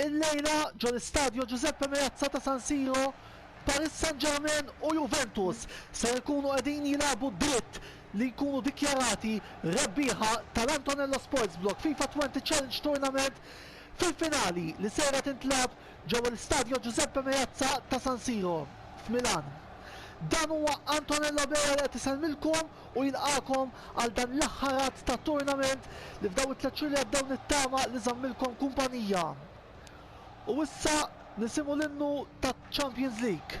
Illejla, ġo l-Istadio Giuseppe Meazza ta' San Siro, Paris Saint-Germain u Juventus ser ikunu qegħdin jilagħbu d-dritt li jkunu dikjarati rebbieħa tal-Antonello Sports Blog FIFA Twenty Challenge Tournament fil-finali li sejra tintlagħab ġewwa l-Istadio Giuseppe Meazza ta' San Siro, f'Milan. Dan huwa Antonello Bea li qed isellmilkom. u jilqagħkom għal dan l-aħħar għadd ta' tournament li f'daw it-tliet xhur li għaddew nittama li żammilkom kumpanija. U issa nisimgħu l-innu taċ-Champions League.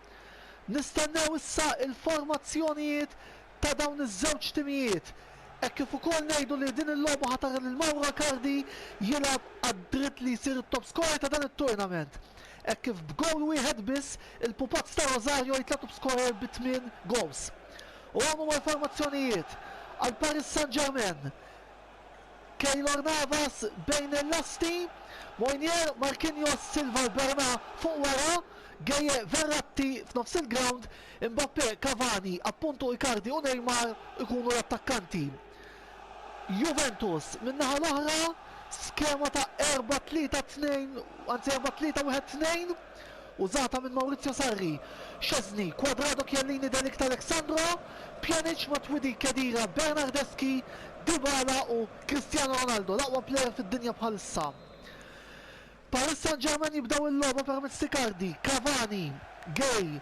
Nistennew issa il-formazzjonijiet ta' dawn iż-żewġ timijiet hekk kif ukoll ngħidu li din il-logħba ħa tara lil Mauro Icardi jilgħab għad-dritt li jsir it-top scorer ta' dan it-tournament hekk kif b'gowl wieħed biss il-pupazz ta' Rosario jitla' top scorer bi tmien gowls. U hawn huma l-formazzjonijiet għal Paris Saint-Germain. Keylor Navas bejn il-lasti, Moynier, Marquinhos, Silva u Bernà fuq wara, Gueye, Verratti f'nofs il-grawnd, Mbappé, Cavani, appunt u Icardi u Neymar ikunu l-attakkanti. Juventus min-naħa l-oħra, skema ta' erbgħa tlieta tnejn, anzi erbgħa tlieta wieħed tnejn, Użata minn Maurizio Sarri, Szczesny, Cuadrado Chiellini De Ligt Alexandro, Pjanic, Matuidi, Khedira, Bernardeschi, Dybala u Cristiano Ronaldo l-aqwa plejer fid-dinja bħalissa. Paris Saint-Germain jibdew il-logħba permezz t'Icardi, Cavani, Gueye,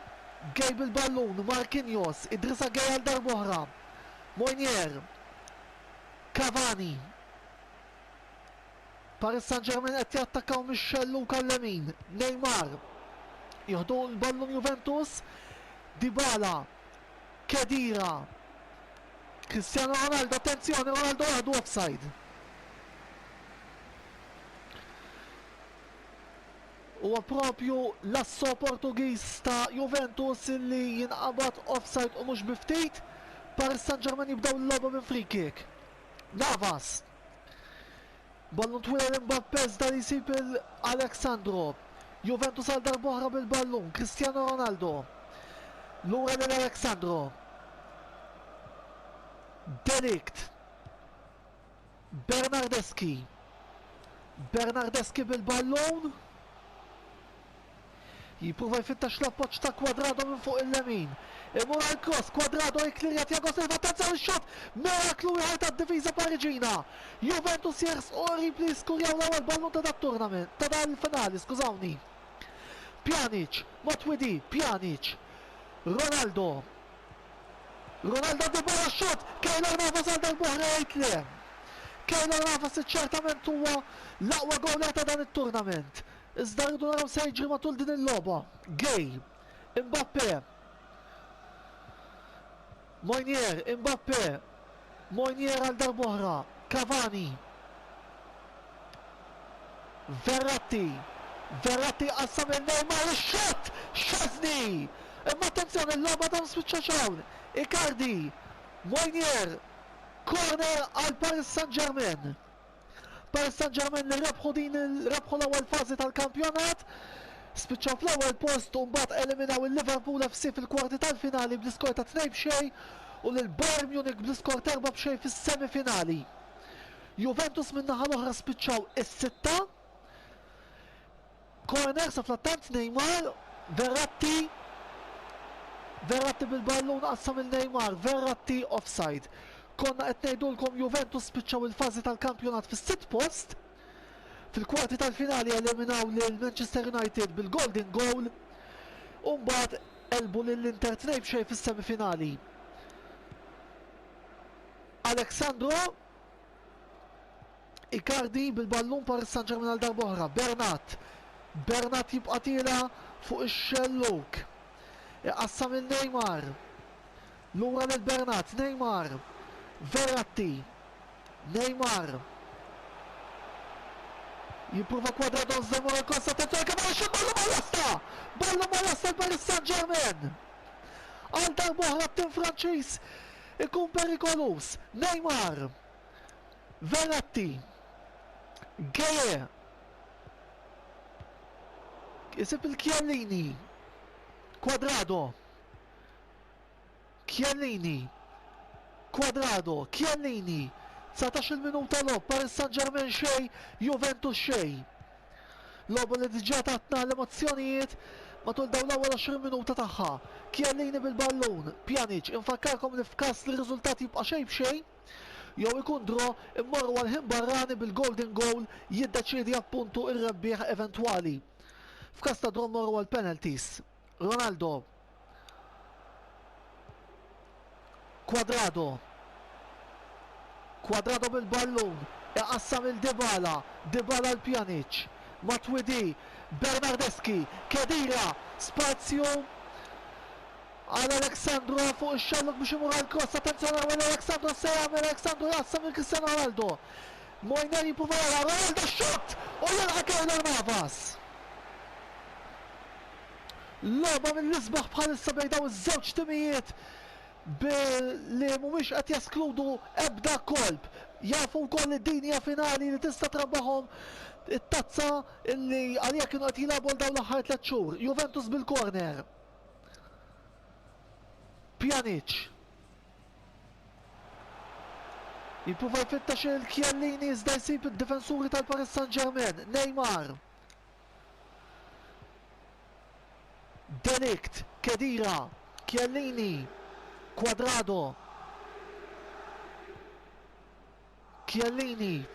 Gueye bil-ballun, Marquinhos, Idrissa Gueye għal darb'oħra, Moinier, Cavani, Paris Saint-Germain qed jattakkaw mix-xell lung għal-lemin. Neymar. Jieħdu l-ballun Juventus. Dybala. Khedira. Cristiano Ronaldo, attenzjoni, Ronaldo waħdu offside. Huwa propju l-asso Portugiż ta' Juventus li jinqabad offside u mhux biftit. Paris Saint-Germain jibdew l-logħba minn free kick. Navas. Ballun twil għal Mbappe iżda li jsib il Alex Sandro. Juventus għal darboħra bil-ballun, Cristiano Ronaldo. Lura lil Alex Sandro. Delikt. Bernardeschi. Bernardeschi bil-ballun. Jipprova jfittex l-appoġġ ta' Cuadrado minn fuq il-lemin. Imur għall-kross, Cuadrado jikklirja Thiago Silva, attenzzjoni x-xott! Miraklu ieħor tad-difiża Pariġina! Juventus jersqu qrib li jiskurjaw l-ewwel ballun ta' dat-tournament, ta' dal-finali, skużawni. Pjanic, Matuidi, Pjanic. Ronaldo. Ronaldo Dybala x-xott! Keylor Navas għal darb'oħra jgħid le. Keylor Navas li ċertament huwa l-aqwa gowler ta' dan it-tournament. Iżda rridu naraw se jiġri matul din il-logħba. Gay, Mbappe, Moynier, Mbappe, Moynier għal darbohra, Cavani, Verratti, Verratti qassam lil Neymar ix-xott, Szczesny! Imma attenzjoni l-logħba dan spiċċa xawn, Icardi, Moynier, corner għal Paris Saint-Germain. Paris Saint-Germain li rebħu din rebħu l-ewwel fażi tal-kampjonat spiċċaw fl-ewwel post u mbagħad eliminaw il-Liverpool FC fil-kwarti tal-finali bl-iskor ta' tnejn b'xejn u lil Bayern Munich bl-iskor ta' erba' b'xejn fis-semifinali. Juventus min-naħa l-oħra spiċċaw is-sitta Corner sa fl-attant Neymar, Verratti, Verratti bil-ballun qassam lil Neymar, Verratti offside. Konna qed ngħidulkom Juventus spiċċaw il-fażi tal-kampjonat fis-sitt post. Fil-kwarti tal-finali eliminaw lil Manchester United bil-golden goal u mbagħad għelbu lil Inter tnejn b'xejn fis-semifinali. Alex Sandro Icardi bil-ballun Paris Saint-Germain għal darb'oħra. Bernat. Bernat jibqa' tiela fuq ix-xellug. Iqassam lil Neymar. Lura lil Bernat. Neymar. Verratti. Neymar. Jipprova kwadra Don Zemur il-kosta tettwel kemm għal xi ballu mal-lasta! Ballu mal-lasta l-Paris Saint-Germain! Għal darb'oħra t-tim Franċiż Ikun perikoluż, Neymar, Verratti, Gueye, isib lil Chiellini, Cuadrado, Chiellini, Cuadrado, Chiellini, 19-il minuta logħob, Paris Saint-Germain xejn, Juventus xejn. Logħba li diġà tatna l-emozzjonijiet matul dawn l-ewwel 20 minuta tagħha. Chiellini bil-ballun, Pjanic, infakkarkom li f'każ li r-riżultat jibqa' xejn b'xejn, jew ikun draw, immorru għall-ħin barrani bil-golden goal jiddeċiedi appuntu r-rebbieħ eventwali. F'każ ta' draw mmorru għall-penalties. Ronaldo. Cuadrado. Cuadrado bil-ballun, iqassam lil Dybala, Dybala għal Pjanic. Matuidi, Bernardeschi, Khedira, spazju għal Alexandro fuq ix-xallug biex imur għall-kross, attenzjoni għamel Alexandro x'se jagħmel, Alexandro jqassam lil Cristiano Ronaldo. Moiner jipprova jara Ronaldo x-xutt u jilqa' Keylor Navas. Logħba mill-isbaħ bħalissa bejn dawn iż-żewġ timijiet billi mhumiex qed jeskludu ebda kolp. Jafu wkoll li din hija finali li tista' trabbahom it-tazza illi għaliha kienu qed jilagħbu għal dawn l-aħħar tliet xhur. Juventus bil-corner. Pjanic. Jipprova jfittex il-Kjellini iżda jsib id-difensuri tal-Paris Saint-Germain. Neymar. De Ligt, Khedira, Chiellini, Cuadrado, Chiellini,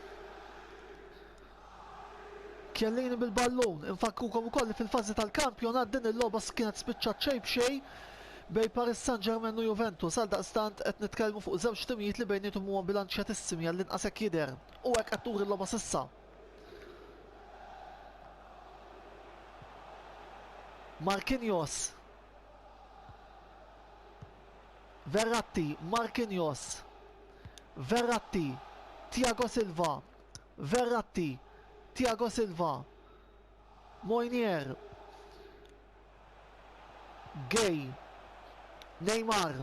Chiellini bil-ballun, infakkrukom ukoll li fil-fażi tal-kampjonat din il-logħba kienet spiċċat xejn b'xejn bejn Paris Saint-Germain u Juventus, għal daqstant qed nitkellmu fuq żewġ timijiet li bejniethom huma bilanċjatissimi għall-inqas hekk jidher u hekk qed turi l-logħba s'issa. Marquinhos. Verratti, Marquinhos. Verratti, Tiago Silva. Verratti, Tiago Silva. Moinier. Gay. Neymar.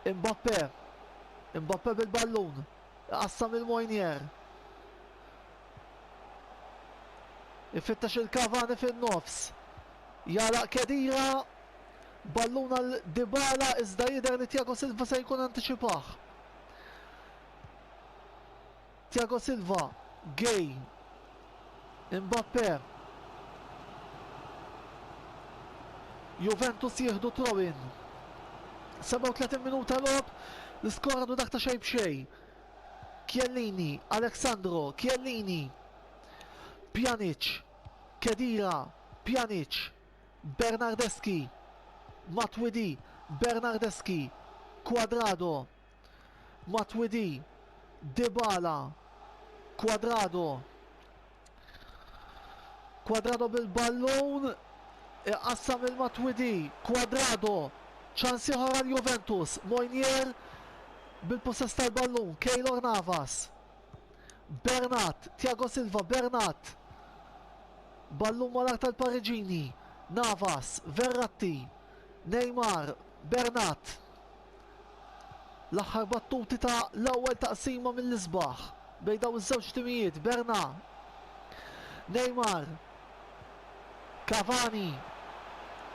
Mbappe. Mbappe bil-ballun. Iqassam lil Mojnier. Ifittex il-Cavani fin-nofs. Jagħlaq Kedira. Ballun għal Dybala iżda jidher li Thiago Silva se jkun antiċipah. Thiago Silva, Gueye, Mbappe, Juventus jieħdu throw-in. 37 minuta logħob, l-iskor għadu dak ta' xejn b'xejn. Chiellini, Alexandro, Chiellini, Pjanic, Kedira, Pjanic, Bernardeschi, Matuidi, Bernardeschi, Quadrado, Matuidi, Dybala, Cuadrado. Cuadrado bil-ballun, iqassam lil Matuidi, Cuadrado, ċans ieħor għal Juventus, Moynier bil-pussess tal-ballun, Keylor Navas. Bernat, Thiago Silva, Bernat. Ballun malar tal-Pariġini, Navas, Verratti, Neymar, Bernat. L-aħħar battuti ta' l-ewwel taqsima mill-isbaħ bejn dawn iż-żewġ timijiet, Bernà, Neymar, Cavani,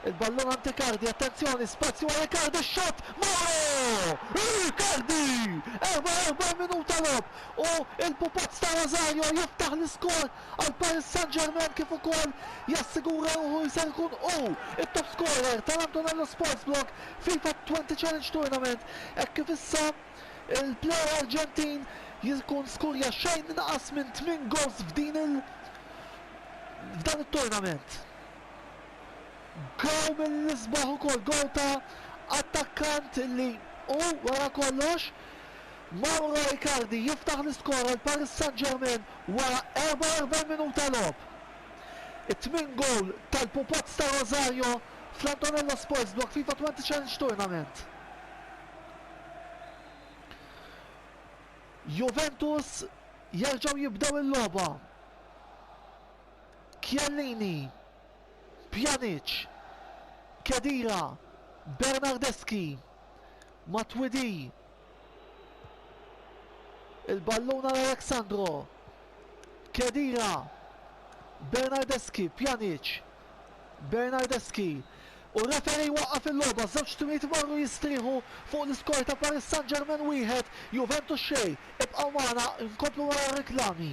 il-ballun għand Icardi, attenzjoni, spazju għal Icardi, x-xott, Mauro! Icardi! 44 minuta logħob u l-pupazz ta' Rosario jiftaħ l-iskor għal Paris Saint-Germain kif ukoll jassigura ruħu li ser ikun hu t-top scorer tal-Antonello Sports Blog FIFA Twenty Challenge Tournament hekk kif issa l-player Arġentin jkun skurja xejn inqas minn tmien goals f'din il f'dan it-tournament. Goal mill-isbaħ ukoll, goal ta' attakkant li hu wara kollox Mauro Icardi jiftaħ l-iskor għal Paris Saint-Germain wara 44 minuta logħob. It-tmien gowl tal-Pupots ta' Rosario fl-Antonello Sports Block FIFA Twenty Challenge Tournament. Juventus jerġgħu jibdew il-logħba. Chiellini, Pjanic, Khedira, Bernardeschi, Matuidi, Il-ballun għal Alexandro. Kedira. Bernardeschi, Pjanic. Bernardeschi. U referi waqqaf il-logħba, żewġ timijiet marru jistrieħu fuq l-iskor ta' Paris Saint-Germain wieħed, Juventus xejn. Ibqgħu magħna nkomplu wara r-riklami.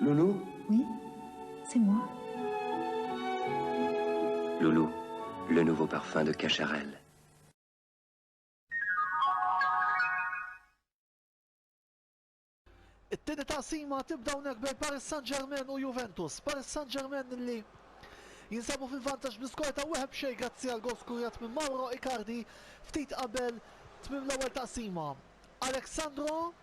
Lulu? Oui, c'est moi. Lulu, le nouveau parfum de Cacharel. It-tieni taqsima tibda hawnhekk bejn Paris Saint-Germain u Juventus. Paris Saint-Germain li jinsabu fil-vantaġġ bl-iskor ta' wieħed b'xejn grazzi għal gol skurjat minn Mauro Icardi ftit qabel tmim l-ewwel taqsima. Alexandro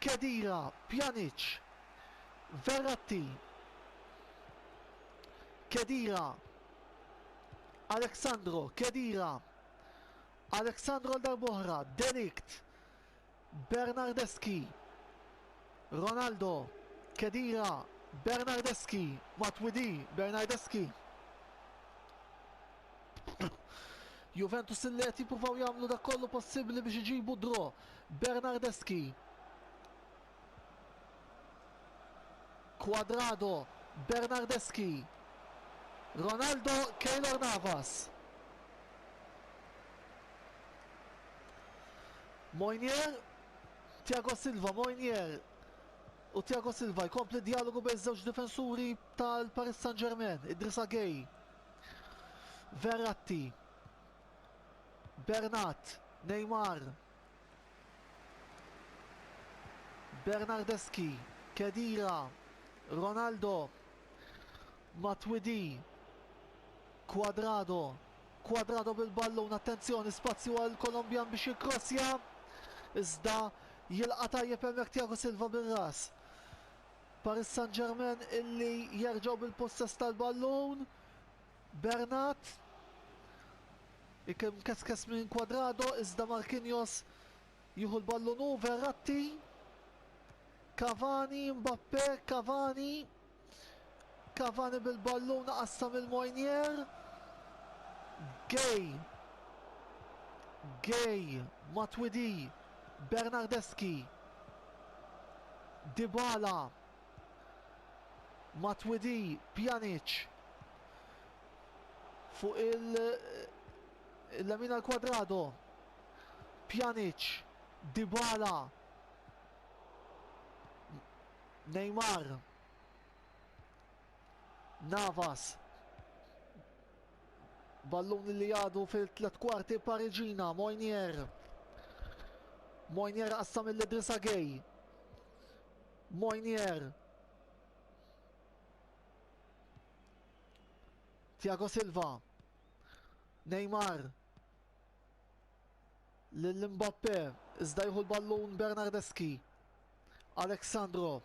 Khedira, Pjanic, Verratti, Khedira, Alexandro, Khedira, Alexandro għal darb'oħra, De Ligt, Bernardeschi, Ronaldo, Khedira, Bernardeschi, Matuidi, Bernardeschi. Juventus li qed jippruvaw jagħmlu dak kollu possibbli biex iġibu draw. Bernardeschi. Quadrado, Bernardeschi. Ronaldo, Keylor Navas. Moinier, Tiago Silva, Moinier u Tiago Silva jkompli dialogu bejn żewġ difensuri tal-Paris Saint-Germain, Idrissa Gay. Verratti, Bernat, Neymar, Bernardeschi, Khedira, Ronaldo, Matuidi, Cuadrado, Cuadrado bil-ballun, attenzjoni, spazju għall-Kolombjan biex jikkrossja, iżda jilqa' tajjeb hemmhekk Thiago Silva bir-ras. Paris Saint-Germain illi jerġgħu bil-pussess tal-ballun. Bernat. Ikun mkeskes minn Cuadrado iżda Marquinhos jieħu l-ballun hu Verratti. Cavani, Mbappe, Cavani. Cavani bil-ballun qassam il-Mojnier. Gay. Gay, Matuidi, Bernardeschi. Dybala, Matuidi, Pjanic fuq il-lemin għal Quadrado, Pjanic, Dybala, Neymar, Navas, Ballun li għadu fil-tliet kwarti Pariġina, Moynier. Moynier qassam il Idrissa Gay. Moynier. Tiago Silva. Neymar. Lil Mbappe, iżda jieħu l-ballun Bernardeski. Alexandro.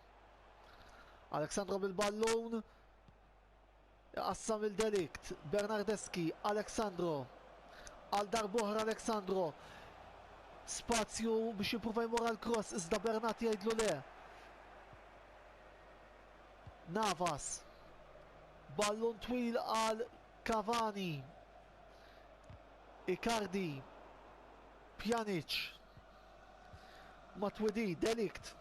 Alexandro bil-ballun. Iqassam lil de Ligt, Bernardeschi, Alex Sandro, għal darb'oħra Alex Sandro, spazju biex jipprova jmur għall-kross iżda Bernat jgħidlu le. Navas, ballun twil għal Cavani, Icardi, Pjanic, Matuidi, De Ligt,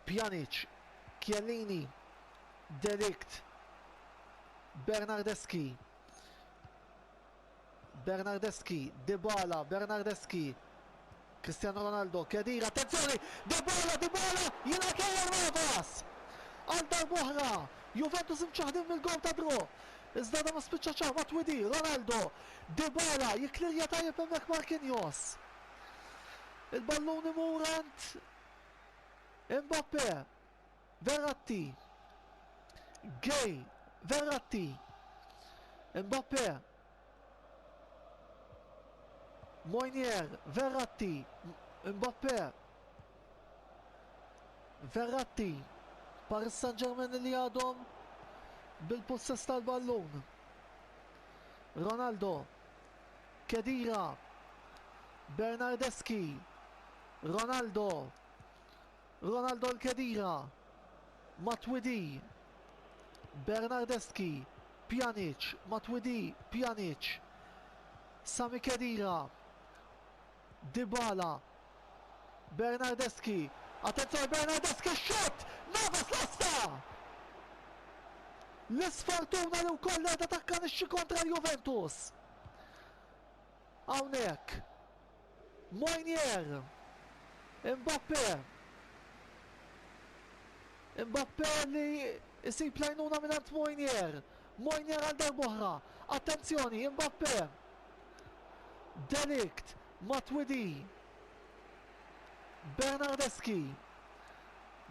Pjanic, Chiellini, De Ligt, Bernardeschi, Bernardeschi, Dybala, Bernardeschi, Cristiano Ronaldo, Khedira, attenzjoni, Dybala, Dybala, jilgħab Keylor Navas! Għal darb'oħra, Juventus imċaħdin mill-gowl ta' draw. Iżda dan ma spiċċa ċar, Matuidi, Ronaldo, Dybala jiklirja tajjeb hemmhekk Marquinhos. Il-ballun imur għand Mbappe. Verratti. Gay. Verratti. Mbappe. Moynier. Verratti. Mbappe. Verratti. Paris Saint-Germain li għadhom bil-possess tal-ballun. Ronaldo, Khedira, Bernardeschi, Ronaldo, Ronaldo 'l Khedira, Matuidi, Bernardeschi, Pjanic, Matuidi, Pjanic, Sami Khedira, Dybala, Bernardeschi, attenzjoni Bernardeschi x-xutt! Navas lesta! L-isfortuna li wkoll qiegħda takkanixxi kontra l-Juventus. Hawnhekk. Moynier. Mbappe. Mbappe li jsib lajnuna minn Moynier. Moynier għal darbohra. Attenzjoni, Mbappe. De Ligt, Matuidi, Bernardeschi,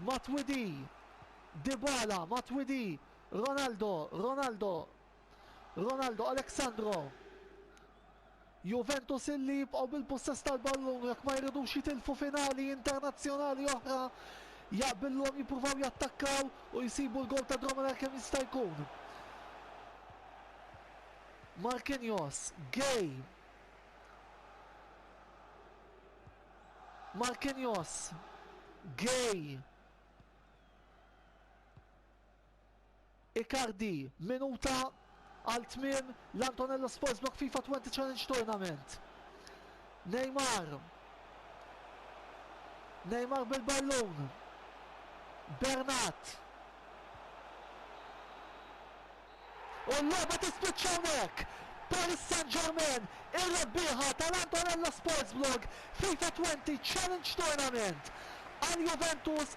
Matuidi, Dybala, Matuidi, Ronaldo, Ronaldo, Ronaldo, Alex Sandro. Juventus illi jibqgħu bil-pussess tal-ballun jekk ma jridux jitilfu finali internazzjonali oħra jaqbillhom jippruvaw jattakkaw u jsibu l-gowl ta' Drommeler kemm jista' jkun. Marquinhos, Gueye. Marquinhos, Gueye. Icardi, minuta għal tmiem l-Antonello Sports Block FIFA 20 Challenge Tournament. Neymar. Neymar bil-ballun. Bernat. U l-logħba tispiċċa hawnhekk! Paris Saint-Germain, ir-rebbieħa tal-Antonello Sportsblog FIFA 20 Challenge Tournament, għal Juventus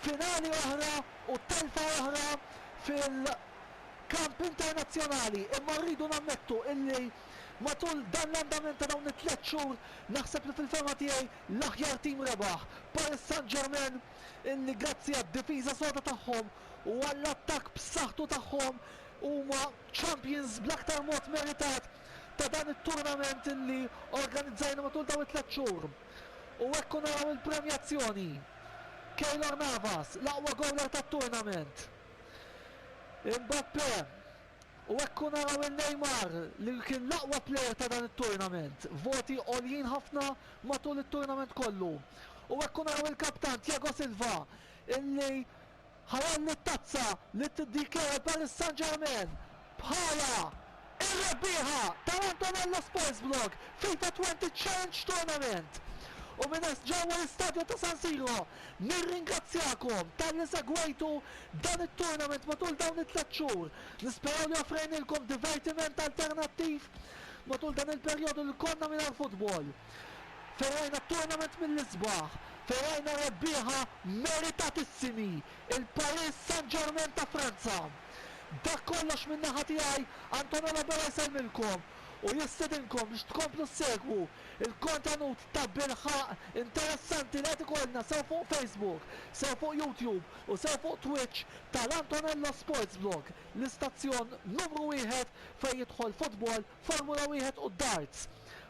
finali oħra u telfa oħra fil-kamp internazzjonali imma rridu nammettu illi matul dan l-andament ta' dawn it-tliet xhur naħseb li fil-fehma tiegħi l-aħjar tim rebaħ, Paris Saint-Germain illi grazzi għad-difiża soda tagħhom, u għall-attakk b'saħħtu tagħhom huma champions bl-aktar mod meritat ta' dan it-turnament li organizzajna matul dawn it-tliet xhur. U hekk u naraw il-premjazzjoni. Keylor Navas, l-aqwa gowler tat-turnament. Mbappe, u hekk u naraw lil Neymar li kien l-aqwa player ta' dan it-turnament. Voti għoljin ħafna matul it-turnament kollu. U hekk u naraw il-kaptan Thiago Silva illi Ħallan it-tazza li tdk għal Paris Saint-Germain bħala r-rebbieħa tal-Antonello Sports Vlog FIFA 20 Challenge Tournament. U minn hess ġewwa l-Istadju ta' San Siro nirringrazzjakom talli segwejtu dan it-tournament matul dawn it-tliet xhur. Nisperaw li offrejnilkom divertiment alternattiv matul dan il-perjodu li konna mingħajr futbol. fejn rajna t-tournament mill-isbaħ, fejn rajna rebbieħa meritatissimi, il-Paris Saint-Germain ta' Franza. Dak kollox min-naħa tiegħi, Antonio Labella jsellmilkom u jistedinkom biex tkomplu ssegwu l-kontenut ta' bilħaqq interessanti li qed ikollna sew fuq Facebook, sew fuq YouTube u sew fuq Twitch tal-Antonello Sports Blog, l-istazzjon numru wieħed fejn jidħol futbol, Formula Wieħed u d-darts.